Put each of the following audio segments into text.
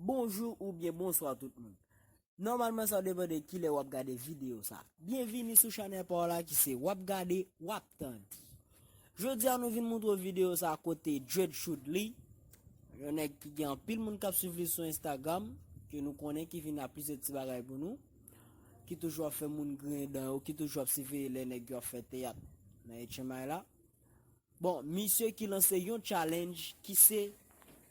Bonjou ou byen bonswa tout moun. Nòmalman sa depan de kilè wap gade video sa. Byenvini sou chanèl pa w la ki se wap gade wap tande. Jodi a nou vin moutre w video sa kote Dread Shoudly, yon nèg ki gen anpil moun kap swiv li sou Instagram, ke nou konnen ki vin a plizyè ti bagay pou nou, ki toujou ap fè moun griyen dan yo, ki toujou ap siveye lè nèg yo ap fè teyat nan etchenmay la. Bon misye ki lanse yon challenge ki se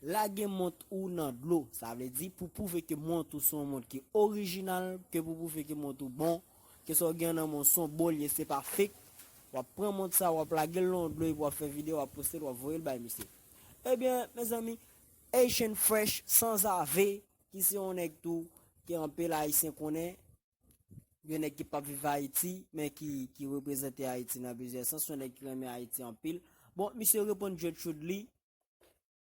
lage mont ou nan dlo sa vle di pou pwouve ke mont ou son mont ki orijinal ke pou pwouve ke mont ou bon ke sa w gen nan men w son bon liye se pa fake w ap pran mont sa w ap lage l nan yon dlo epi w ap fè video w ap poste l w ap voye l bay misye ebyen mezanmi Haitian Fresh sanzave ki se yon nèg tou ke anpil ayisyen konnen Gen nèg ki pap viv Ayiti, men ki ki reprezante Ayiti nan plizyè sans, yon nèg ki renmen Ayiti anpil. Bon, misye reponn Gertrude Lee,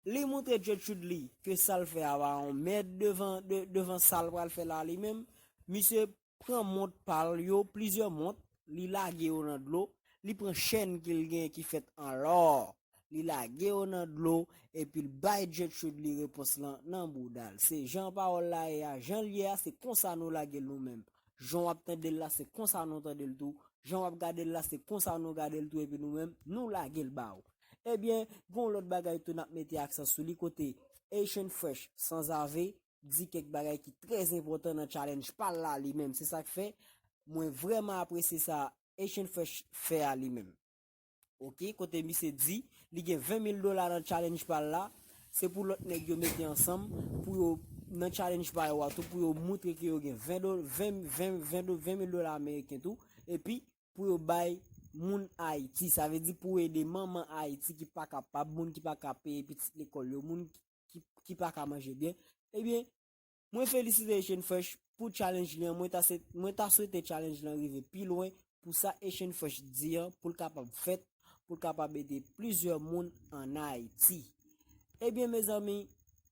li montre Gertrude Lee ke sa l fè a pa yon mèd devan devan sa l pral fè la li menm. Misye pran mont pa l yo, plizyè mont, li lage yo nan dlo, li pran chèn ke l gen ki fèt an lò, Li lage yo nan dlo, epi l bay Gertrude li repons lan nan bouda l. Se jan pawòl la ye a, jan l ye a, se konsa nou lage l nou menm. Jan w ap tande l la, se konsa nou tande l tou. Jan w ap gade l la, se konsa nou gade l tou epi nou menm, nou lage l ba ou. Ebyen, gen yon lòt bagay tou n ap mete aksan sou li kote Haitian Fresh, Sanzave, di kèk bagay ki trè enpòtan nan challenge pa l la li menm. Se sa k fè, mwen vrèman apresye sa Haitian Fresh fè a li menm. Ok kote misye di li gen 20 mil dola nan challenge pal la se pou lot neg yo mete ansanm pou yo nan challenge pa yo a tou pou yo moutre ke yo gen 20 dola 20 20 20 do 20 mil dola ameriken tou epi pou yo bay moun ayiti sa ve di pou ede manman ayiti ki pa kapab moun ki pa ka peye pitit lekol yo moun ki pa ka manje byen ebyen Mwen felisite Echene Fresh pou challenge li an mwen ta se mwen ta swete challenge lan rive pi lwen pou sa Echene Fresh di an pou l kapab fèt pou l kapab ede plizyè moun an Ayiti. Ebyen mezanmi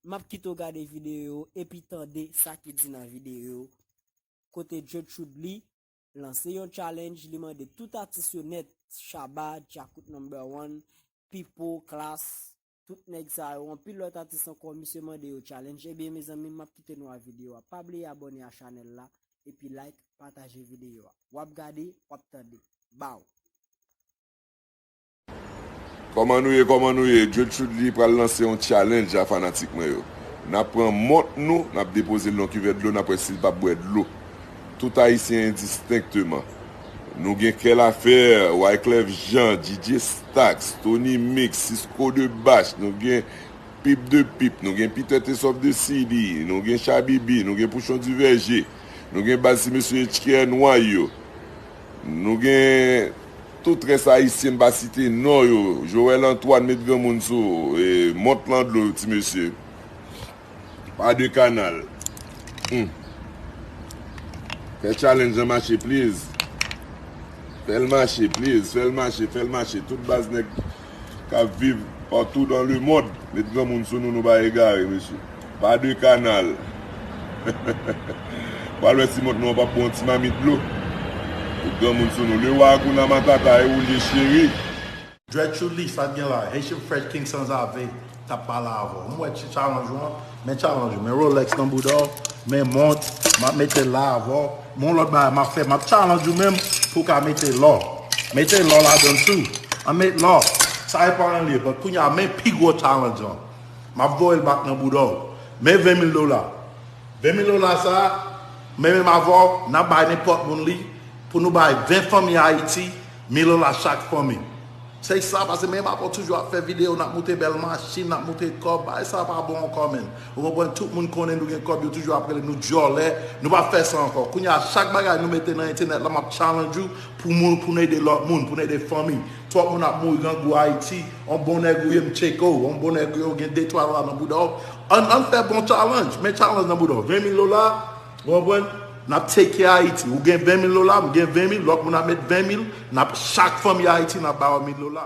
map kite w gade videyo yo epi tande sa ki di nan videyo yo kote Djotchud Lee lanse yon challenge li mande tout atis yo nèt Shabba, Djakout No. 1, Pipo, Klass, Tout nèg sa yo, anpil lòt atis ankò misye mande yo challenge ebyen mezanmi map kite nou a video a pa bliye abòne a chanèl la epi like pataje video a wap gade wap tande baww. Kòman nou ye kòman nou ye Djed Choudly pral lanse yon challenge a fanatik mwen yo nap pran mont nou nap depozel nan kivèt dlo nap wè sil pap bwè dlo tout ayisyen endistenkteman Nou gen kè lafè, Wyclef Jean, Didier Stax, Tony Mix, Sisco de Bach, nou gen Pip de Pip, nou gen Peter Tessoff de CD, nou gen Shabibi, nou gen Pouchon Duverger, nou gen baz ti mesye HKR nwa yo, nou gen tout rès ayisyen m pa site non yo, Joel Antoine met granmoun sou, mont lan dlo ti mesye. Pa de kanal. Humm. Fè challenge an mache please. Fèl mache please. Fèl mache, fèl mache. Tout baz nèg kap viv partout dans le monde met granmoun sou nou nou pa egare mesye. Pa de kanal. Pral wè si mont nou an pap bon ti mamit dlo. Met granmoun sou nou. Le roi Hakuna Matata e ou l ye cheri. Dread chou li sa gen la. Haitian fresh king sanzave tap pale avèw m wè ti challenge ou an men challenge ou men rolex nan boudaw men mont map metel la avèw men yon lòt bagay map fè map challenge ou menm pou ka mete lò mete lò ladann tou an met lò sa epa anyen liye but kounya men pi gwo challenge lan map voyel back nan boudaw men 20 mil dola 20 mil dola sa men menm avèw nap bay nenpòt moun li pou nou bay 20 fanmi ayiti Milo la chak fanmi. Se sa pase men epa pou toujou ap fè video nap moute bèl machin nap moute kòb bagay sa pa bon ankò menn ou konprann tout moun konnen nou gen kòb yo toujou ap rele nou dyòlè nou pap fè sa ankò kounye a chak bagay nou mete nan entènèt la map challenge ou pou moun pou nou ede lòt moun pou nou ede fanmi twòp moun ap mouri grangou ayiti on bon nèg ou ye m tcheke w on bon nèg ou ye ou gen de twa dola nan bouda w ann ann fè bon challenge men challenge nan bouda w jwenn milo la. Ou konprann? N ap take care Ayiti. Ou gen 20 mil dola, m gen 20 mil, lòt moun ap met 20 mil, n ap, chak fanmi Ayiti, n ap ba yo mil dola.